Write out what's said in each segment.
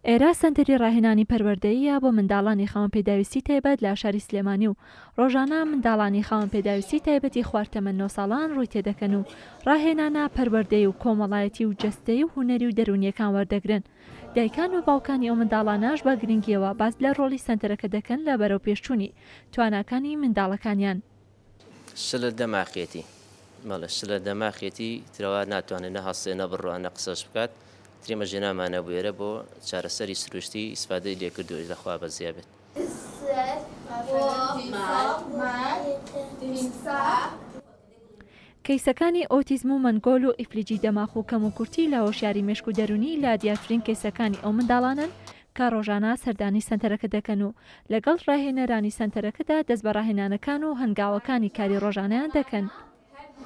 ئێرا سەنتەری ڕاهێنانی پەروەردەییە بۆ منداڵانی خاوەن پێداویستی تایبەت لە شاری سلێمانی و ڕۆژانە منداڵانی خاوەن پێداویستی تایبەتی خوار تەمەن نۆ ساڵان ڕووی تێدەکەن و ڕاهێنانە پەروەردەیی و کۆمەڵایەتی و جەستەیی و هونەری و دەروونیەکان وەردەگرن دایکان و باوکانی ئەو منداڵانەش بە گرنگیەوە باس لە ڕۆڵی سەنتەرەکە دەکەن لە بەرەوپێشچوونی تواناکانی منداڵەکانیان شلە دەماخیەتی بەڵێ شلە دەماخیەتی ترەوە ناتوانێت نە هەستێ نە بڕوان نە قسەش بکات تریمە ژێنامانە بوێرە بۆ چارەسەری سروشتی ئیسفادەی لێکردوێت لەخوا بەزیا بێت. کەیسەکانی ئۆتیزم و مەنگۆل و ئیفلیجی دەماخ و کەموکورتی لە هۆشیاری مێشک و دەروونی لە دیارترین کەیسەکانی ئەو منداڵانەن کە ڕۆژانە سەردانی سەنتەرەکە دەکەن و لەگەڵ ڕاهێنەرانی سەنتەرەکەدا دەست بە ڕاهێنانەکان و هەنگاوەکانی کاری ڕۆژانەیان دەکەن.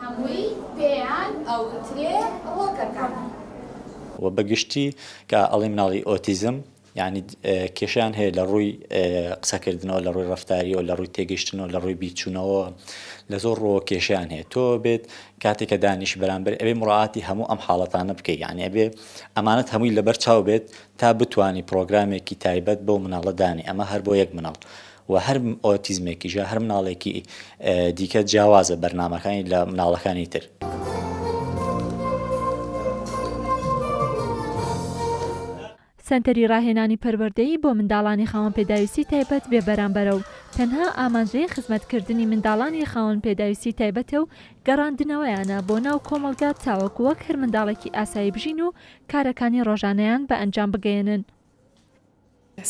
هەمووی پێیان ئەوترێ ڕۆکەکان. و بە گشتی کە ئەڵێین مناڵی ئۆتیزم یانی کێشەیان هەیە لە ڕووی قسەکردنەوە لە ڕووی ڕەفتاریەوە لە ڕووی تێگەیشتنەوە لە ڕووی بیرچوونەوە لە زۆر ڕووەوە کێشەیان هەیە تۆ بێت کاتێک کە دانیشی بەرامبەر ئەوێ مڕاتی هەموو ئەم حاڵەتانە بکەیت یانی ئەبێ ئەمانەت هەمووی لەبەر چاو بێت تا بتوانی پڕۆگرامێکی تایبەت بەو مناڵە دانێ ئەمە هەر بۆ یەک مناڵ و هەر ئۆتیزمێکیشە هەر مناڵێکی دیکە جیاوازە بەرنامەکانی لە مناڵەکانی تر. سەنتەری ڕاهێنانی پەروەردەیی بۆ منداڵانی خاوەن پێداویستی تایبەت بێ بەرامبەرە و تەنها ئامانجەی خزمەتکردنی منداڵانی خاوەن پێداویستی تایبەتە و گەڕاندنەوەیانە بۆ ناو کۆمەڵگا تاوەکو وەک هەر منداڵێکی ئاسایی بژین و کارەکانی ڕۆژانەیان بە ئەنجام بگەیەنن.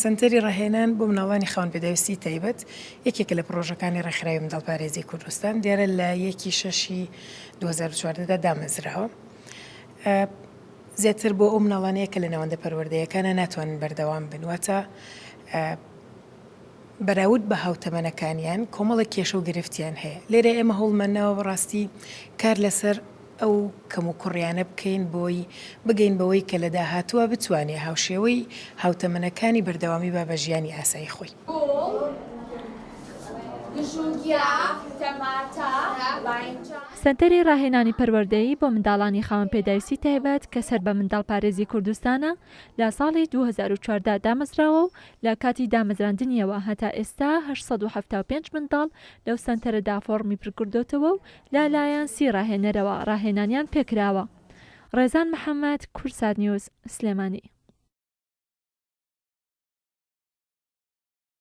سەنتەری ڕاهێنان بۆ مناڵانی خاوەن پێداویستی تایبەت یەکێکە لە پڕۆژەکانی ڕێکخراوی منداڵ پارێزی کوردستان دیارە لە یەکی شەشی دوو هەزار و چواردە دا دامەزراوە زیاتر بۆ ئەو مناڵانەیە کە لە ناوەندە پەروەردەیەکانە ناتوانن بەردەوام بن واتە بەراود بە هاوتەمەنەکانیان کۆمەڵە کێشە و گرفتیان هەیە لێرە ئێمە هەوڵمانناوە بەڕاستی کار لەسەر ئەو کەموکوڕیانە بکەین بۆی بگەین بەوەی کە لە داهاتووە بتوانێ هاوشێوەی هاوتەمەنەکانی بەردەوامی با بە ژیانی ئاسایی خۆی. سەنتەری ڕاهێنانی پەروەردەیی بۆ منداڵانی خاوەن پێداویستی تایبەت کە سەر بە منداڵپارێزی کوردستانە لە ساڵی دوو هەزار و چواردە دامەزراوە و لە کاتی دامەزراندنیەوە هەتا ئێستا هەشت سەد و حەفتا و پێنج منداڵ لەو سەنتەرەدا فۆڕمی پرکردۆتەوە و لە لایەن سی ڕاهێنەرەوە ڕاهێنانیان پێکراوە. ڕێزان محەمەد، کوردسات نیوز، سلێمانی.